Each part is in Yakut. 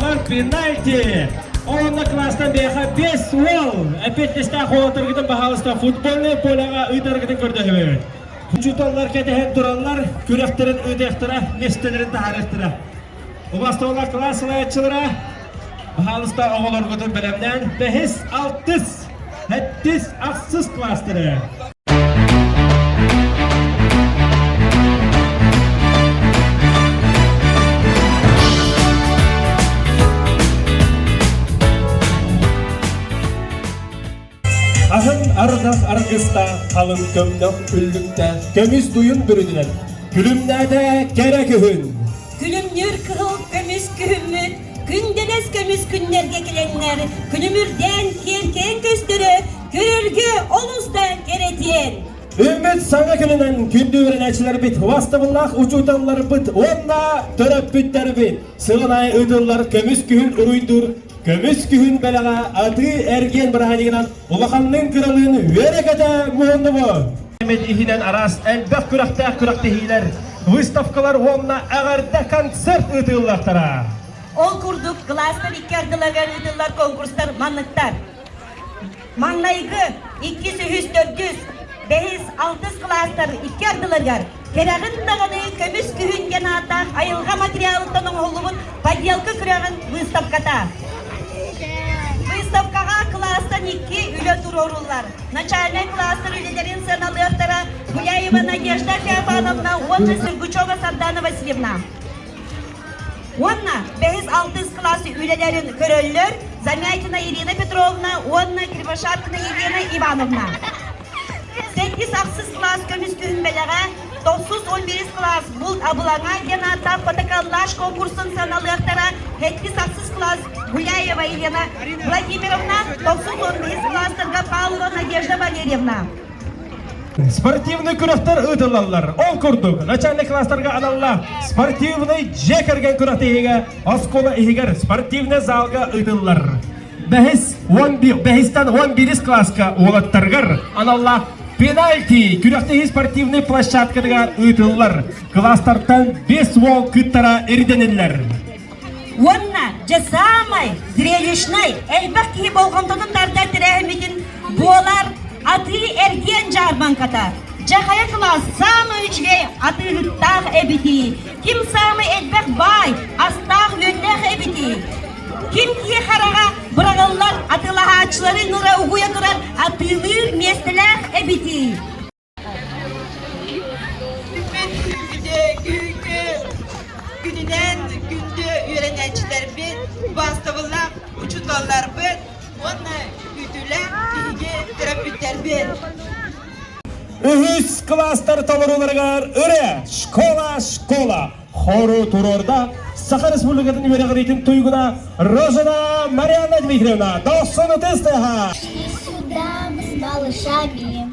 Long пенальти! Онно класстан бэйэхэ бэс уол! Опять дьэстээх уолларгытын баһаалыста футбольнай поляҕа ыытаргытын көрдөһөбүт. Учууталлар кэтэһэн тураллар, күрэхтэрин ыытыахтара, миэстэлэрин таһаарыахтара. Убастаулар класс салайааччылара баһаалыста оҕолоргутун бэлэмнээн бэһис, алтыс, сэттис, ахсыс класстары ардах аргыстаах халын көмнөх үллүктээх көмүс буйун бүрүнүнэн күлүмнээтэ кэрэ күһүн күлүмнүр кыһыл көмүс күһүммүт күн дэнэс көмүс күннэргэ килэҥнэр күнүмүрдээн киэркээн көстөрө Күрүлгү олустан кэрэтиэн! Үүммүт саҥа күнүнэн күндү үөрэнээччилэрбит, бастабыллаах учууталларбыт уонна төрөппүттэрбит сыл аайы ыытыллар көмүс күһүн уруйдуур көмүс күһүн бэлэҕэ атыы-эргиэн бырааһынньыгынан улаханныын кыралыын үөрэ-көтө муһуннубут. иһинэн араас элбэх күрэхтээх күрэхтэһиилэр, выставкалар уонна эҕэрдэ концерт ыытыллартара. Ол курдук, кылаастан икки ардыларыгар ыытыллар конкурстар манныктар. Маҥнайгы иккис үһүс төрдүс бэһис алтыс кылаастар икки ардыларыгар кэрэҕин даҕаны көмүс күһүн диэн ааттаах айылҕа материалыттан оҥоһуллубут подделка күрэҕин быыстапката. Быыстапкаҕа кылаастан икки үлэ туруоруллар. Начальнай кылаастар үлэлэрин сыаналыахтара Гуляева Надежда Капановна уонна Сергучева Сардаана Васильевна. Уонна бэһис алтыс кылаас үлэлэрин көрөллөр Замятина Ирина Петровна уонна Кривошапкина Елена Ивановна. Сэттис ахсыс кылаас көмүскүһүн бэлэҕэ тохсус он бирис кылаас булт абылаҥа диэн ааттаах фотоколлаж конкурсун саналыахтара сэттис ахсыс кылаас Гуляева Елена Владимировна тохсус он бирис кылаастарга Павлова Надежда Валерьевна. Спортивный күрэхтэр ыытыллаллар. Ол курдук, начальник класстарга аналлаах спортивный дьиэ кэргэн күрэхтэ иһигэ оскуола иһигэр спортивный залга ыытыллар. Бэһис уон би бэһистен уон бирис класска уолаттаргар аналлаах пенальти күрэхтэ иһи спортивный площадкатыгар ыытыллар. Класстартан бес уол кыттара ирдэниллэр. уонна дьэ саамай зрелищнай элбэх киһи болҕомтотун тардар тэрээһиммитин буолар атыы эргиэн дьаарбаҥката дьэ хайа кылаас саамай үчүгэй атыыһыттаах эбитий ким саамай элбэх баай астаах үөннээх эбитий ким киһи хараҕа быраҕыллар атыылаһааччыларын ыра угуйа турар атыылыыр миэстэлээх эбитий Күнүнэн күндү үөрэнээччилэрбит, бастабыллаах учууталларбыт уонна үтүлээх киһиги төрөппүттэрбит. Үһүс кластар толорууларыгар Үре школа-школа хору туруорда Саха Республикатын үөрэҕириитин туйгуна Рожина Марианна Дмитриевна дохсун ытыстыһа. Всегда мы с малышами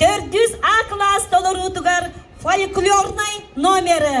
Төрдүс А кылаас толоруутугар фольклорнай номеры